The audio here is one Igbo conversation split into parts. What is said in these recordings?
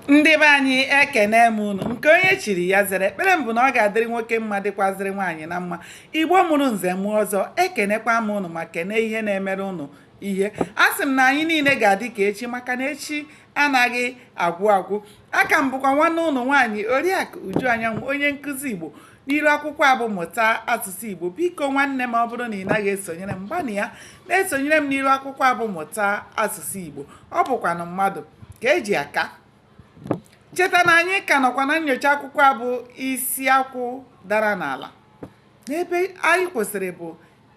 ndị be anyị ekene m unu nke onye chiri ya zere ekpere m bụ na ọ ga-adịrị nwoke mma dịkwazịrị nwaanyị na mma igbo mụrụ nze mụọ ọzọ ekenekwa m unu ma kene ihe na-emere unu ihe asị m na anyị niile ga-adị ka echi maka na echi anaghị agwụ agwụ a ka m bụkwa nwanne unu nwaanyị oriakụ uju anyanwụ onye nkụzi igbo n'iru akwụkwọ a bụ mụta asụsụ igbo biko nwanne m ọ bụrụ na ị naghị esonyere m gbanịa na-esonyere m n'iru akwụkwọ a bụ mụta asụsụ igbo ọ bụkwanụ mmadụ ka e ji aka cheta na anyị ka nọkwa na nnyocha akwụkwọ a bụ isi akwụ dara n'ala n'ebe anyị kwụsịrị bụ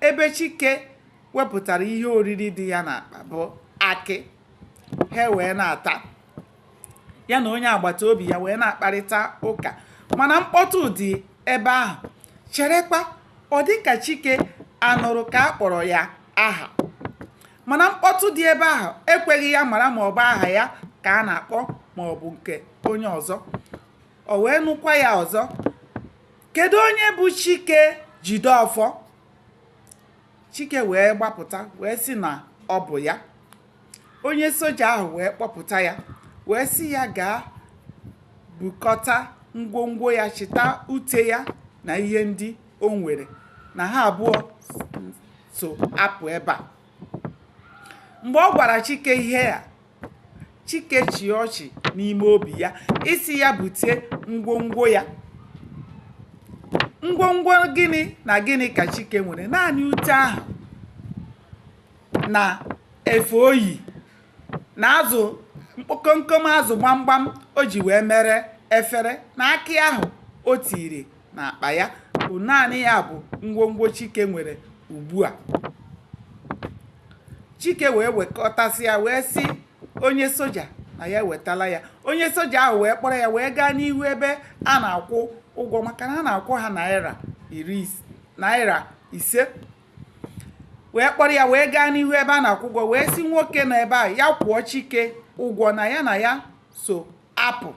ebe chike wepụtara ihe oriri dị ya n'akpa bụ akị ha wee na-ata ya na onye agbata obi ya wee na-akparịta ụka mana mkpọtụ dị ebe ahụ cherekwa ọ dị ka chike anụrụ ka a kpọrọ ya aha mana mkpọtụ dị ebe ahụ ekweghị ya mara ma ọ bụ aha ya ka a na-akpọ ma ọ bụ nke onye ọzọ o wee nụkwa ya ọzọ kedu onye bụ chike jideọfọ chike wee gbapụta wee sị na ọ bụ ya onye soja ahụ wee kpọpụta ya wee sị ya gaa bukọta ngwongwo ya chịta ute ya na ihe ndị o nwere na ha abụọ so apụ ebe a mgbe ọ gwara chike ihe a chike chịa ọchị n'ime obi ya ị sị ya bute ngwongwo ya ngwongwo gịnị na gịnị ka chike nwere naanị ute ahụ na efe oyi na azụ mkpọ komkom azụ gbamgbam o ji wee mere efere na akị ahụ o tiri na akpa ya bụ naanị ya bụ ngwongwo chike nwere ugbu a chike wee wekọtasị ya wee sị onye soja na ya ewetala ya onye soja ahụ wee kpọrọ ya wee gaa n'ihu ebe a na-akwụ ụgwọ maka na a na-akwụ ha naira ise wee kpọrọ ya wee gaa n'ihu ebe a na-akwụ ụgwọ wee sị nwoke nọ ebe a ya kwụọ chike ụgwọ na ya na ya so apụ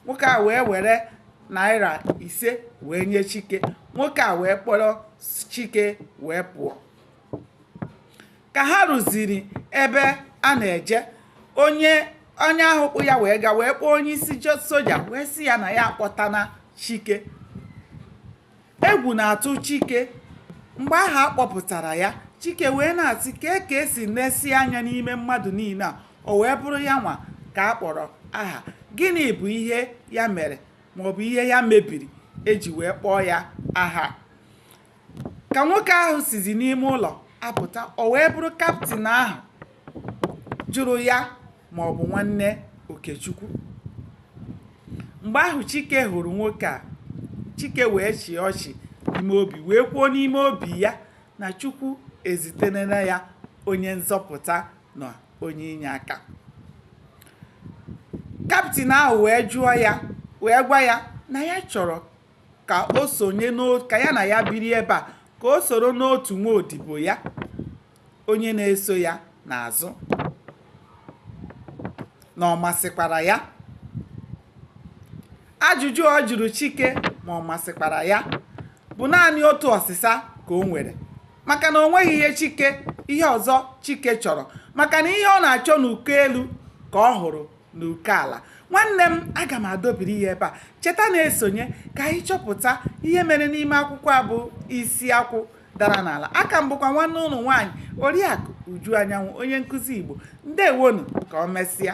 nwoke a wee were naira ise wee nye chike nwoke a wee kpọrọ chike wee pụọ ka ha ruziri ebe a na-eje onye onye ahụ kpụ ya wee gaa wee kpọọ onye isi soja wee sị ya na ya akpọtana chike Egwu na-atụ Chike. Mgbe ahụ a kpọpụtara ya, Chike wee na-asị kee ka e si nesịa anya n'ime mmadụ niile a, o wee bụrụ ya nwa ka a kpọrọ aha. Gịnị bụ ihe ya mere maọbụ ihe ya mebiri e ji wee kpọọ ya aha? Ka nwoke ahụ sizi n'ime ụlọ apụta, o wee bụrụ kaptịn ahụ. jụrụ ya ma ọ bụ nwanne Okechukwu mgbe ahụ Chike hụrụ nwoke a Chike wee chịa ọchị n'ime obi wee kwuo n'ime obi ya na Chukwu ezitenere ya onye nzọpụta na onye inye aka kaptịn ahụ wee jụọ ya wee gwa ya na ya chọrọ ka o sonye ka ya na ya biri ebe a ka o soro n'otu nwa odibo ya onye na-eso ya n'azụ na ọ masịkwara ya ajụjụ ọ jụrụ Chike ma ọ masịkwara ya bụ naanị otu ọsịsa ka o nwere maka na o nweghị ihe Chike ihe ọzọ Chike chọrọ maka na ihe ọ na-achọ n'uko elu ka ọ hụrụ n'uko ala nwanne m aga m adọbiri ya ebe a cheta na-esonye ka anyị chọpụta ihe mere n'ime akwụkwọ a bụ isi akwụ dara n'ala aka m bụkwa nwanne ụnụ nwaanyị oriakụ Uju Anyanwụ onye nkụzi Igbo ndewonu ka o mesịa